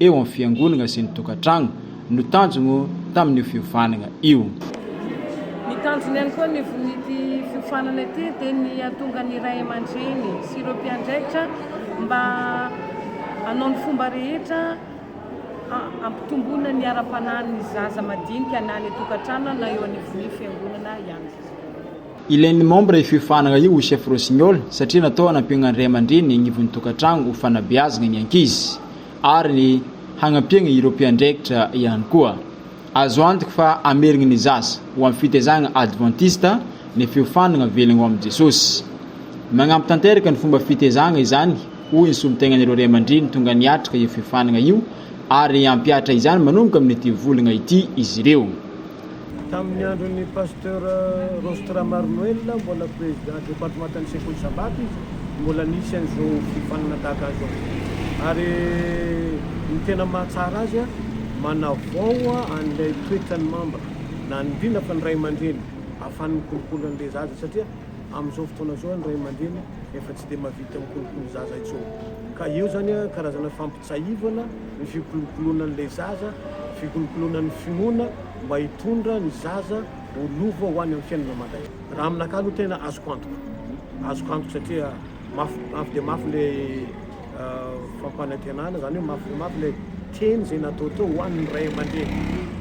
eo amin'ny fiangonagna sy ny tokantragno no tanjogno tamin'io fiofanagna io. Ny tanjony ihany koa anivon'ity fiofanana ity dia ny hahatonga ny ray aman-dreny sy ireo mpiandraikitra mba hanao ny fomba rehetra hampitomboana ny ara-panahin'ny zaza madinika na any an-tokantrano na eo anivon'ny fiangonana ihany koa. Ilain'ny membre io fiofanana io ho chef rossignol satria natao hanampiana ny ray aman-dreny eny anivon'ny tokantrano ho fanabeazana ny ankizy ary hagnampiana ireo mpiandraikitra ihany koa. Azo antoka fa hamerina ny zaza ho amin'ny fitaizana advantista ny fiofanana avelany ho amin'i Jesosy. Magnampy tanteraka ny fomba fitaizana izany hoy ny solontenan'ireo ray aman-dreny tonga niatrika io fiofanana io ary hampihatra izany manomboka amin'ity volana ity izy ireo. Tamin'ny andron'ny Pasteur Rostra Marnoel, mbola prezida departemantan'ny sekoly Sabata izy, mbola nisy an'izao fifanana tahaka an'izao. Ary ny tena mahatsara azy, manavao an'ilay toetran'ny mamba, na ny indrindra fa ny ray aman-dreny, ahafahany mikolokolo an'ilay zaza, satria amin'izao fotoana izao ny ray aman-dreny efa tsy dia mahavita mikolokolo zaza intsony. Ka eo izany karazana fampitahana. Tsiahivana ny fikolokolonan'ilay zaza, fikolokolonan'ny finoana mba hitondra ny zaza ho lova ho any amin'ny fiainana mandrakizay. Raha aminakahy aloha tena azoko antoka, azoko antoka satria mafy mafy dia mafy ilay fampanantenana, izany hoe mafy dia mafy ilay teny izay natao tao ho an'ny ray aman-dreny.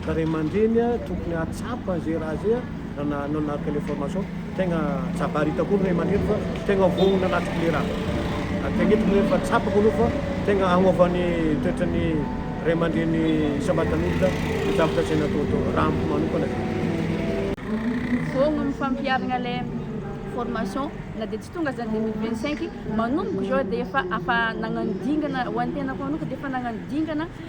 Ka ray aman-dreny tokony hahatsapa izay raha izay raha nanaraka ilay formation. Tegna jabarita koa ny ray aman-dreny fa tegna voaona anaty klera. Adintegna eto ny hoe efa tsapako aloha fa tegna agnôva ny toetra ny ray aman-dreny isam-batan'olona ny zavatra tsy hay natao tô, raha amiko manokana zany. Voaogno ny fampiharagna le formation na dia tsy tonga aza ny deux mille vingt cinq, manomboka izao dia efa afa nagnano dingana, ho an'ny tenako manoka dia efa nagnano dingana,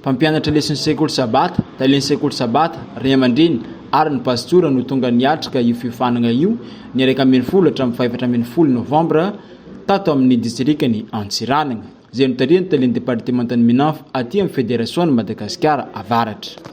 Mpampianatra lesin'ny sekoly Sabata, tailen'ny sekoly Sabata, ray aman-dreny ary ny pastora no tonga niatrika io fiofanagna io ny iraika ambin'ny folo hatramin'ny fahefatra ambin'ny folo novambra tato amin'ny distrikan'i Antsiranana izay notarihan'ny tailen'ny departemantan'ny Minanf aty amin'ny Federasion'i Madagasikara Avaratra.